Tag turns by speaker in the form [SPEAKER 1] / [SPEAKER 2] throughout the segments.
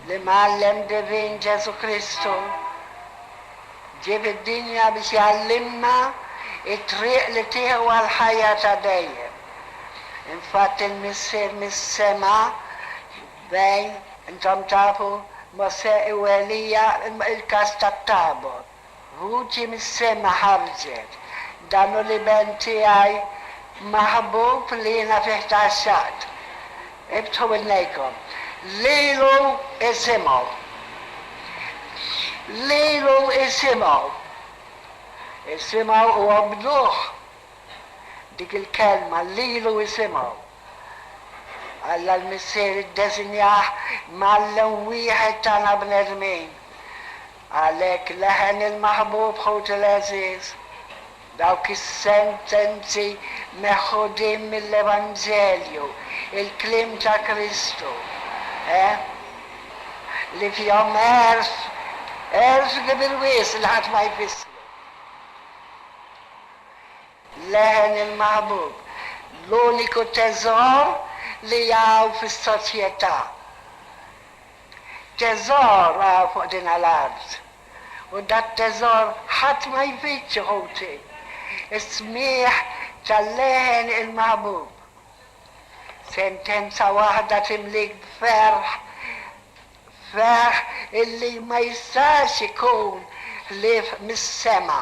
[SPEAKER 1] L-Imgħallem Divin Ġesù Kristu ġie fid-dinja biex jgħallimna t-triq li tieħu għall-ħajja ta' dejjem. Infatti l-Missier mis-sema fejn, intom tafu, Mosè u Elija, il-każ tat-Tabor, Vuċi mis-sema ħarġet, Dan hu l-Iben tiegħi maħbub li jiena fih tgħaxxaqt. Iftħu widnejkom. Lilu isimgħu. Lilu isimgħu. Isimgħu u obduh. Dik il-kelma, lilu isimgħu. Alla l-Missier iddesinjah mgħallem wieħed tagħna bnedmin. Għalhekk leħen il-maħbub ħuti l-għeżież, dawk is-sentenzi meħudin mill-Evanġelju, il-kliem ta' Kristu, eh, li fihom għerf, għerf kbir wis li ħadd ma jfissru. Leħen il-maħbub, l-uniku teżor li hawn fis-soċjetà. Teżor ra fuq dinha l-art, u dat-teżor ħadd ma jfittxu, ħuti, is-smigħ tal-leħen il-maħbub. Sentenza waħda timlik b'ferħ, ferħ illi ma jistax ikun ħlief mis-sema.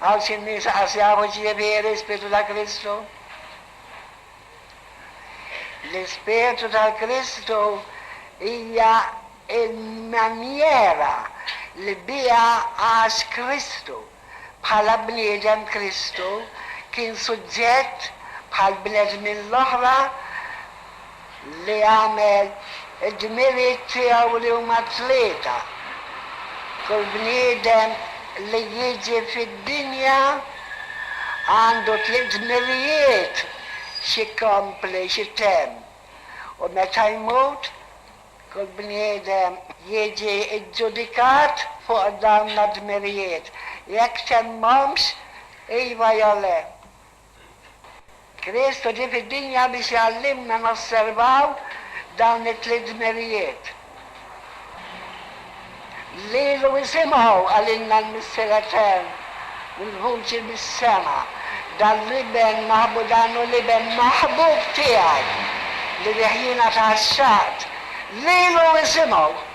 [SPEAKER 1] Hawn xi nies qas jafu x'jifieri l-Ispirtu ta' Kristu. L-Ispirtu ta' Kristu hija l-manjiera li biha għax Kristu. Bħala bniedem Kristu kien suġġett bħall-bnedmin l-oħra. li għamel id-dmirijiet tiegħu li huma tlieta, kull bniedem li jiġi fid-dinja għandu tliet dmirijiet x'ikompli, x'itemm, u meta jmut, kull bniedem jiġi ġġudikat fuq dawna d-dmirijiet, jekk temmhomx, iva jew le. Kristu ġie fid-dinja biex jgħallimna nosservaw dawn it-tliet dmirijiet. Lilu isimgħu, qalilna l-Missier Etern bil-vuċi mis-sema, Dan l-Iben maħbu dan hu l-Iben maħbub tiegħi, li bih jiena tgħaxxaqt. Lilu isimgħu!